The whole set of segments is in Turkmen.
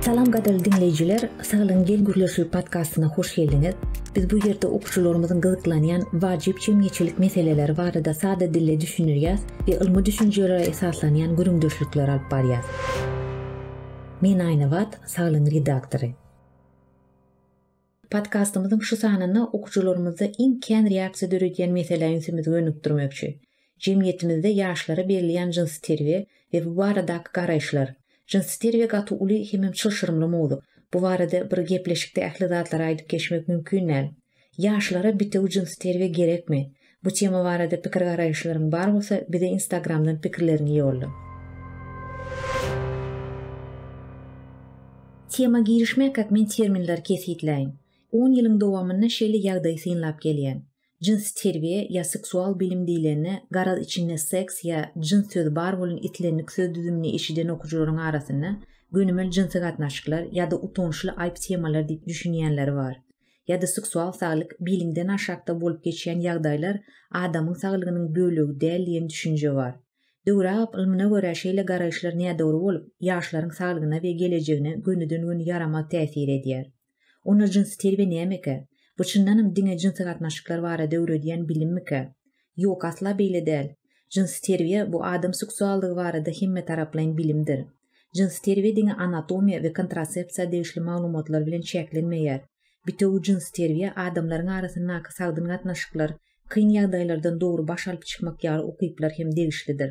Salam gadyrly diňleýjiler, Saglygyň gel gürleşil podkastyna hoş geldiňiz. Biz bu ýerde okuwçylarymyzyň gyzyklanýan wajyp jemgyýetçilik meseleleri barada sada dilde düşündirýäs we ylmy düşünjelere esaslanýan gürrüňdeşlikler alyp barýas. Men Aýnabat, Saglygyň redaktory. Podkastymyzyň şu sanynda okyjylarymyzda iň kän reaksiýa döredýän meselä ünsümizi gönükdirmekçi. Jemgyýetimizde ýaşlara berilýän jynsy terbiýe we bu baradaky garaýyşlar. Jynsy terbiýe gaty uly hemem çylşyrymly mowzuk. Bu barada bir gepleşikde ähli zatlary aýdyp geçmek mümkin däl. Ýaşlara bitewi jynsy terbiýe gerekmi? Bu tema barada pikir garaýyşlaryň bar bolsa bize instagramdan pikirleriňi ýolla. Tema girişmekak men terminleri kesgitläýin. On ýylyň dowamynda şeýle ýagdaýy synlap gelýän. Jynsy terbiýe ýa seksual bilim diýlende garaz içinde seks ýa jyns sözi bar bolan islendik söz düzümini eşiden okyjylaryň arasynda gönümel jynsy gatnaşyklar ýa-da utançly aýp temalar diýip düşünýänleri bar. ýa-da seksual saglyk bilimden aşakda bolup geçýän ýagdaýlar adamyň saglygynyň bölegi däl diýen düşünje bar. Döwür agyp ylmyna görä şeýle garaýyşlar nädogry bolup, ýaşlaryň saglygyna we gelejegine gönüden-gün ýaramaz täsir edýär. Onda jynsy terbiýe nämekä? Bu çyndanam diňe jynsy gatnaşyklar barada öwredýän bilimmikä? Ýok, asla beýle däl. Jynsy terbiýe bu adam seksuallygy barada hemmetaraplaýyn bilimdir. Jynsy terbiýe diňe anatomiýa we kontrasepsiýa degişli maglumatlar bilen çäklenmeýär. Bitewi jynsy terbiýe adamlaryň arasyndaky sagdyn gatnaşyklar, kyn ýagdaýlardan dogry baş alyp çykmak ýaly ukyplar hem degişlidir.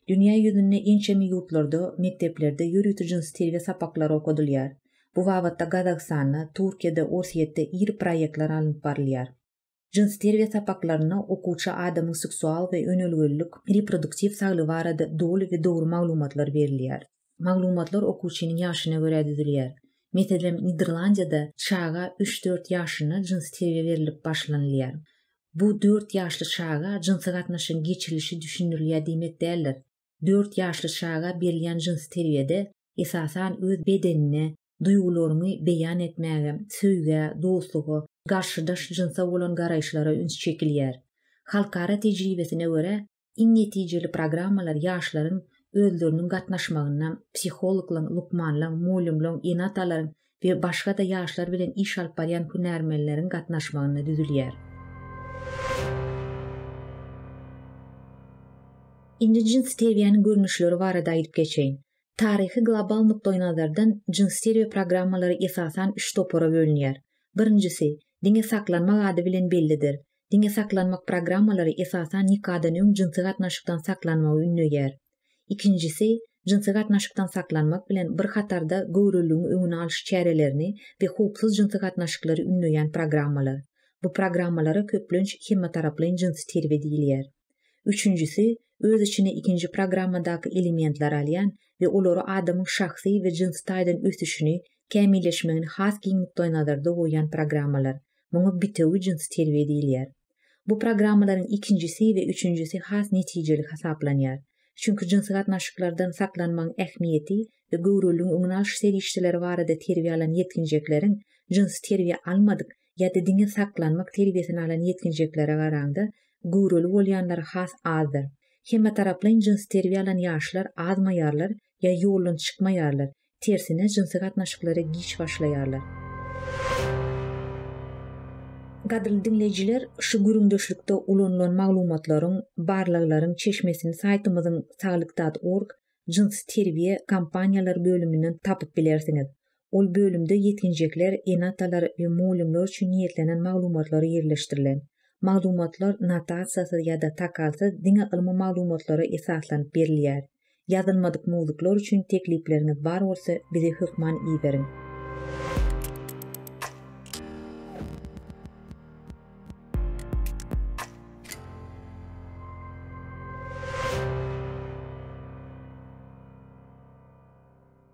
Dünýä ýüzünde ençeme ýurtlarda mekdeplerde ýörite jynsy terbiýe sapaklary okadylýar. Bu babatda Gazagystanda, Türkiýede, Orsýetde iri proýektler alnyp barylýar. Jyns terbiýe sapaklarynda okuwça adamyň seksual we önelgelilik, reproduktiw saglygy barada doly we dogry maglumatlar berilýär. Maglumatlar okuwçynyň ýaşyna görä düzülýär. Meselem, Niderlandiýada çaga üç-dört ýaşynda jynsy terbiýe berilip başlanylýar. Bu dört ýaşly çaga jynsy gatnaşygyň geçirilişi düşündirilýär diýmek däldir. Dört ýaşly çaga berilýän jynsy terbiýede, esasan, öz bedenine, duýgularyňy beýan etmäge, söýgä, dostluga, garşydaş jynsa bolan garaýyşlara üns çekilýär. Halkara tejribesine görä, iň netijeli programmalar ýaşlaryň özleriniň gatnaşmagynda, psihologlaryň, lukmanlaryň, mugallymlaryň, ene-atalaryň we başga-da ýaşlar bilen iş alyp barýan hünärmenleriň gatnaşmagynda düzülýär. Indi jynsy terbiýäniň görnüşleri barada aýdyp geçeýin. Taryhy global nukdaýnazardan jyns stereo programmalary esasan üç topara bölünýär. Birinjisi, diňe saklanmak ady bilen bellidir. Diňe saklanmak programmalary esasan nikadan öň jynsy gatnaşykdan saklanmagy ündeýär. Ikinjisi, jynsy gatnaşykdan saklanmak bilen bir hatarda göwreliligiň öňüni alyş çärelerini we howpsuz jynsy gatnaşyklary ündeýän programmalar. Bu programmalara köplenç hemmetaraplaýyn jynsy terbiýe diýilýär. Üçünjisi, öz içine ikinji programmadaky elementleri alýan we olary adamyň şahsy we jynsy taýdan ösüşini, kämilleşmegini has giň nukdaýnazarda goýýan programmalar. Muňa bitewi jynsy terbiýe diýilýär. Bu programmalaryň ikinjisi we üçünjisi has netijeli hasaplanýar. Çünki jynsy gatnaşyklardan saklanmagyň ähmiýeti we göwreliligiň öňüni alyş serişdeleri barada terbiýe alan ýetginjekleriň jynsy terbiýe almadyk ýa-da diňe saklanmak terbiýesini alan ýetginjeklere garaňda, göwreli bolýanlar has azdyr. Hemmetaraplaýyn jynsy terbiýe alan ýaşlar azmaýarlar ýa ýoldan çykmaýarlar, tersine jynsy gatnaşyklara giç başlaýarlar. Gadyrly diňleýjiler, şu gürrüňdeşlikde ulanylan maglumatlaryň, barlaglaryň çeşmesini saýtymyzyň saglyk dat org, Jynsy terbiýe kompaniýalar bölüminden tapyp bilersiňiz. Ol bölümde ýetginjekler, ene-atalar we mugallymlar üçin niýetlenen maglumatlar ýerleşdirilen. Maglumatlar notasiýasyz ýa-da takalsyz diňe ylmy maglumatlara esaslanyp berilýär. Ýazylmadyk mowzuklar üçin teklipleriňiz bar bolsa bize hökman iberiň.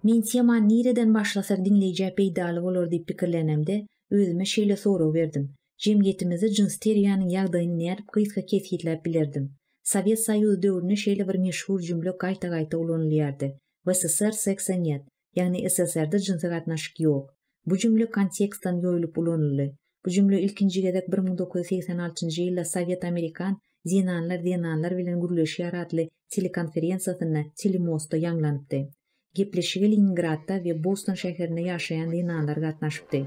Men Teman nireden başlasak diňleýjä peýdaly bolar diýip pikirlänemde, özüme şeýle sorag berdim, Jemgyýetimizde jyns teriýanyň ýagdaýyny nädip gysga kesgitläp bilerdim? Sowet Soýuzy döwründe şeýle bir meşhur jümle gaýta-gaýta ulanylýardy, W. S. S. R. Seksa nýet. ýagny SSR-da jynsy gatnaşyk ýok. Bu jümle kontekstdan ýoýlup ulanyldy. Bu jümle ilkinji gezek bir müň dokuz ýüz segsen altynjy ýylda Sowet Amerikan Zenanlar zenanlar bilen gürleşýär atly telekonferensiýasynda telemostda ýaňlanypdy. Gepleşige Leningradda we Boston şäherinde ýaşaýan zenanlar gatnaşypdy.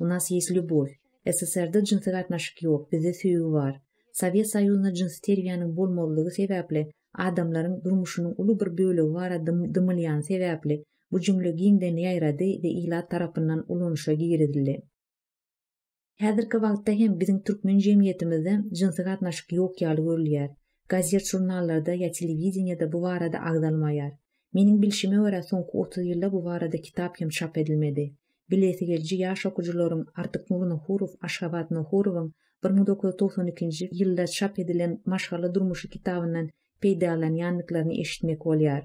U nas ýes lýubow. SSR-da jynsy gatnaşyk ýok, bizde söýgi bar. Sowet Soýuzynda jynsy terbiýäniň bolmazlygy sebäpli adamlaryň durmuşynyň uly bir bölegi barada dymylýany sebäpli bu jümle giňden ýaýrady we ilat tarapyndan ulanyşa girizildi. Häzirki wagtda hem biziň türkmen jemgyýetimizde jynsy gatnaşyk ýok ýaly görülýär. Gazet-žurnallarda ýa telewideniýede bu barada agzalmaýar. Meniň bilşime görä, soňky otuz ýylda bu barada kitap hem çap edilmedi. Bilesi geliji ýaş okyjylaryň Artyknury Nohurow, Aşgabat Nohurowyň bir müň dokuz ýüz togsan ikinji ýylda çap edilen Maşgala durmuşy kitabyndan peýdalanýandyklaryny eşitmek bolýar.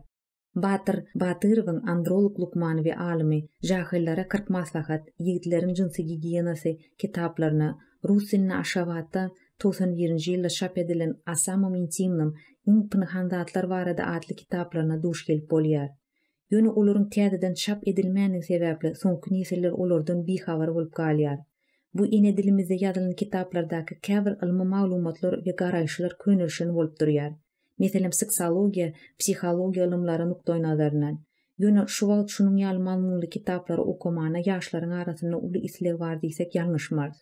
Batyr Batyrowyň Androlog lukmany we alymy, Jahyllara kyrk maslahat, Ýigitleriň jynsy gigiýenasy kitaplaryna, rus dilinde Aşgabatda togsan birinji ýylda çap edilen O samom intimnom, Iň pynhan zatlar barada atly kitaplaryna duş gelip bolýar. Ýöne olaryň täzeden çap edilmändigi sebäpli soňky nesiller olardan bihabar bolup galýar. Bu ene dilimizde ýazylan kitaplardaky käbir ylmy maglumatlar we garaýyşlar könelişen bolup durýar. Meselem, seksologiýa, psihologiýa ylymlary nukdaýnazaryndan. Ýöne şu wagt şunuň ýaly mazmunly kitaplary okamana ýaşlaryň arasynda uly isleg bar diýsek ýalňyşmarys.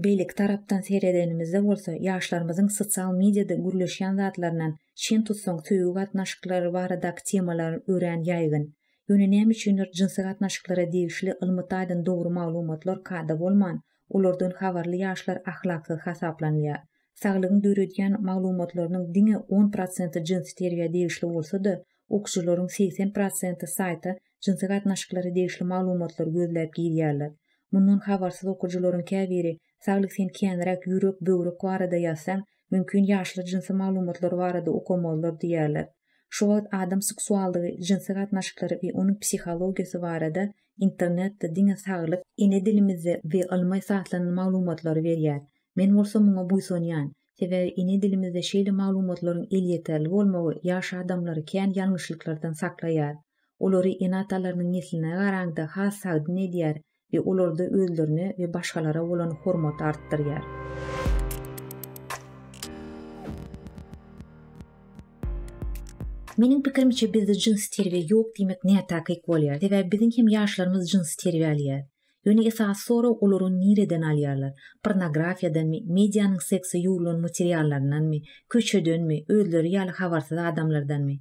Beýleki tarapdan seredenimizde bolsa, ýaşlarymyzyň sosial mediýada gürleşýän zatlaryndan, çen tutsaň, söýgi gatnaşyklary baradaky temalar örän ýaýgyn. Ýöne näme üçindir, jynsy gatnaşyklara degişli ylmy taýdan dogry maglumatlar kada bolman, olardan habarly ýaşlar ahlaksyz hasaplanylýar. Saglygyň döredýän maglumatlarynyň diňe on prosenti jynsy terbiýä degişli bolsa-da, okyjylaryň segsen prosenti saýta jynsy gatnaşyklara degişli maglumatlary gözläp girýärler. Mundan habarsyz okyjylaryň käbiri, Saglyk sen känräk ýürek, böwrek barada ýazsaň, mümkin ýaşlar jynsy maglumatlar barada okamazlar diýýärler. Şu wagt adam seksuallygy, jynsy gatnaşyklary we onuň psihologiýasy barada internetde diňe Saglyk. Ene dilimizde we ylmy esaslanan maglumatlary berýär. Men bolsa muňa buýsanýan. Sebäbi ene dilimizde şeýle maglumatlaryň elýeterli bolmagy ýaş adamlary kän ýalňyşlyklardan saklaýar. Olary ene-atalarynyň nesline garaňda has sagdyn edýär we olarda özlerine we başgalara bolan hormaty artdyrýar. Meniň pikirimçe bizde jynsy terbiýe ýok diýmek nätakyk bolýar. Sebäbi biziň hem ýaşlarymyz jynsy terbiýe alýar. Ýöne esasy sorag olar ony nireden alýarlar? Pornografiýadanmy, medianyň sekse ýugrulan materiallaryndanmy, köçedenmi, özleri ýaly habarsyz adamlardanmy?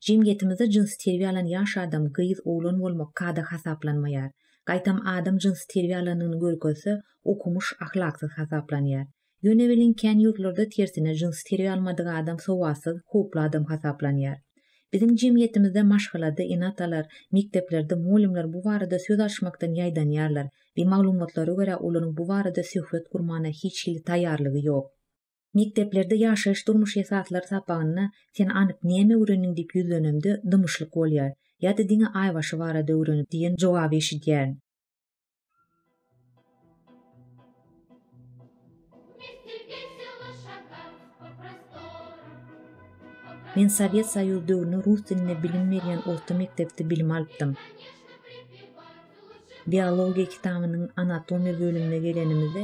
Jemgyýetimizde jynsy terbiýe alan ýaş adam, gyz, oglan bolmak kada hasaplanmaýar. Gaýtam adam jynsy terbiýe alanyny görkezse, okumyş, ahlaksyz hasaplanýar. Ýöne welin kän ýurtlarda tersine jyns teriý almadyk adam sowatsyz, howply adam hasaplanýar. Biziň jemgyýetimizde maşgalada ene-atalar, mekdeplerde mugallymlar bu barada söz açmakdan ýaýdanýarlar we maglumatlara görä olaryň bu barada söhbet gurmana hiç hili taýýarlygy ýok. Mekdeplerde ýaşaýyş-durmuş esaslary sapagynda Sen anyk näme öwrendiň diýip ýüzlenemde dymyşlyk bolýar. Ýa-da diňe aýbaşy barada öwrenip diýen jogaby eşidýärin. Men Sowet Soýuzy döwründe rus dilinde bilim berýän orta mekdepde bilim alypdym. Biologiýa kitabynyň anatomiýa bölümine gelenimizde,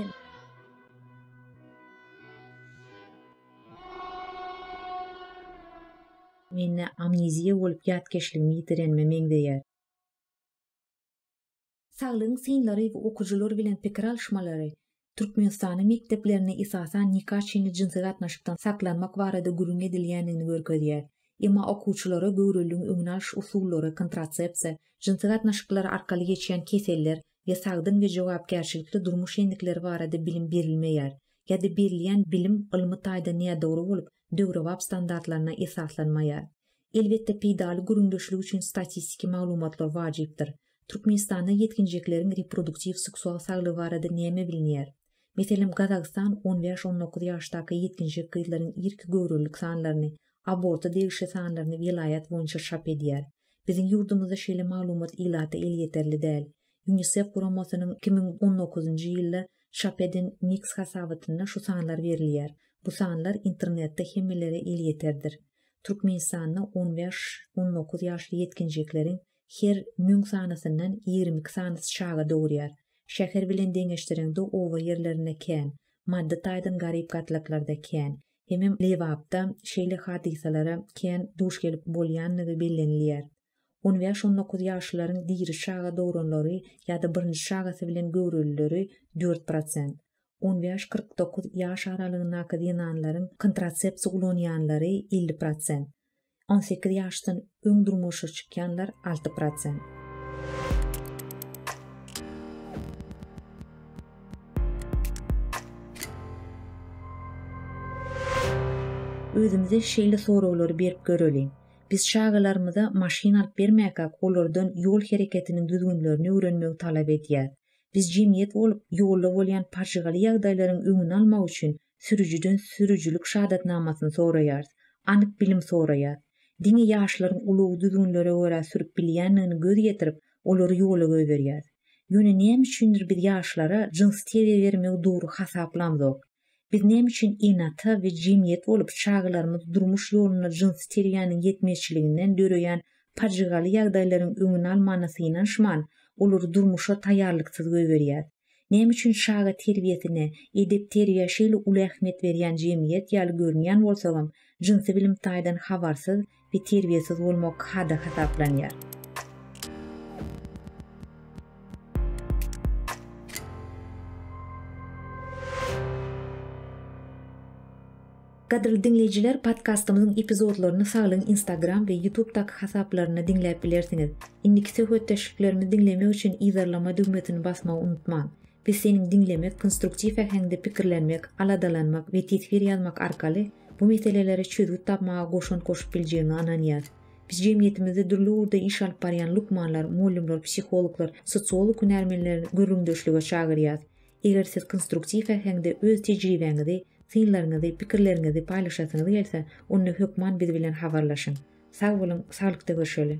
mende amneziýa bolup ýatkeşligimi ýitirenime meňzeýär. Saglygyň synlary we okyjylar bilen pikir alyşmalary Türkmenistanyň mekdeplerinde esasan nika çenli jynsy gatnaşykdan saklanmak barada gürrüň edilýändigini görkezýär. Emma okuwçylara göwreligiň öňüni alyş usullary, kontratsepsiýa, jynsy gatnaşyklar arkaly geçýän keseller we sagdyn we jogapkärçilikli durmuş endikleri barada bilim berilmeýär ýa-da berilýän bilim ylmy taýdan nädogry bolup, döwrebap standartlaryna esaslanmaýar. Elbetde, peýdaly gürrüňdeşlik üçin statistiki maglumatlar wajypdyr. Türkmenistanda ýetginjekleriň reproduktiw-seksual saglygy barada näme bilinýär? Meselem, Gazagystan on bäş-on dokuz ýaşdaky ýetginjek gyzlaryň irki göwrelilik sanlaryny, aborta degişli sanlaryny welaýat boýunça çap edýär. Biziň ýurdumyzda şeýle maglumat ilata elýeterli däl. Ýunisef guramasynyň iki müň on dokuzynjy ýylda çap eden Mix hasabatynda şu sanlar berilýär. Bu sanlar internetde hemmelere elýeterdir. Türkmenistanda on bäş-on dokuz ýaşly ýetginjekleriň her müň sanysyndan ýigrimi iki sanysy çaga dogurýar. Şäher bilen deňeşdireňde oba ýerlerinde kän, maddy taýdan garyp gatlaklarda kän, hemem Lebapda şeýle hadysalara kän duş gelip bolýandygy bellenilýär. On bäş-on dokuz ýaşlylaryň diri çaga dogranlary ýa-da birinji çagasy bilen göwrelileri dört prosent, on bäş-kyrk dokuz ýaş aralygyndaky zenanlaryň kontrasepsiýa ulanýanlary elli prosent, on sekiz ýaşdan öň durmuşa çykýanlar alty prosent. özümize şeýle soraglary berip göreliň. Biz çagalarymyza maşyn alyp bermäkäk olardan ýol hereketiniň düzgünlerini öwrenmegi talap edýäris. Biz jemgyýet bolup ýolda bolýan pajygaly ýagdaýlaryň öňüni almak üçin sürüjiden sürüjilik şadatnamasyny soraýarys, anyk bilim soraýarys. Diňe ýaşlaryň ulagy düzgünlere görä sürüp bilýändigini göz ýetirip, olary ýola goýberýäris. Ýöne näme üçindir biz ýaşlara jyns terbiýe bermegi dogry hasaplamzok. Biz näme üçin ene-ata we jemgyýet bolup çagalarymyz durmuş ýolunda jynsy terbiýäniň ýetmezçiliginden döreýän pajygaly ýagdaýlaryň öňüni almana synanyşman, olary durmuşa taýýarlyksyz goýberýäris? Näme üçin çaga terbiýesine, edep-terýä şeýle uly ähmiýet berýän jemgyýet ýaly görünýän bolsagam, jynsy bilim taýdan habarsyz we terbiýesiz bolmak kada hasaplanýar. Gadyrly diňleýjiler podkastymyzyň epizodlaryny Saglygyň Instagram we Youtube daky hasaplarynda diňläp bilersiňiz. Indiki söhbetdeşliklerimizi diňlemek üçin yzarlama düwmesini basmagy unutmaň. Biz seniň diňlemek, konstruktiw äheňde pikirlenmek, aladalanmak we teswir ýazmak arkaly bu meselelere çözgüt tapmaga goşant goşup biljegiňe ynanýas. Biz jemgyýetimizde dürli ugurda iş alyp barýan lukmanlar, mugallymlar, psihologlar, sosiolog hünärmenleri gürrüňdeşlige çagyrýas. Eger siz konstruktiw äheňde öz tejribäňizi, synlaryňyzy, pikirleriňizi paýlaşasyňyz gelse, onda hökman biz bilen habarlaşyň. Sag boluň, saglykda görşeli!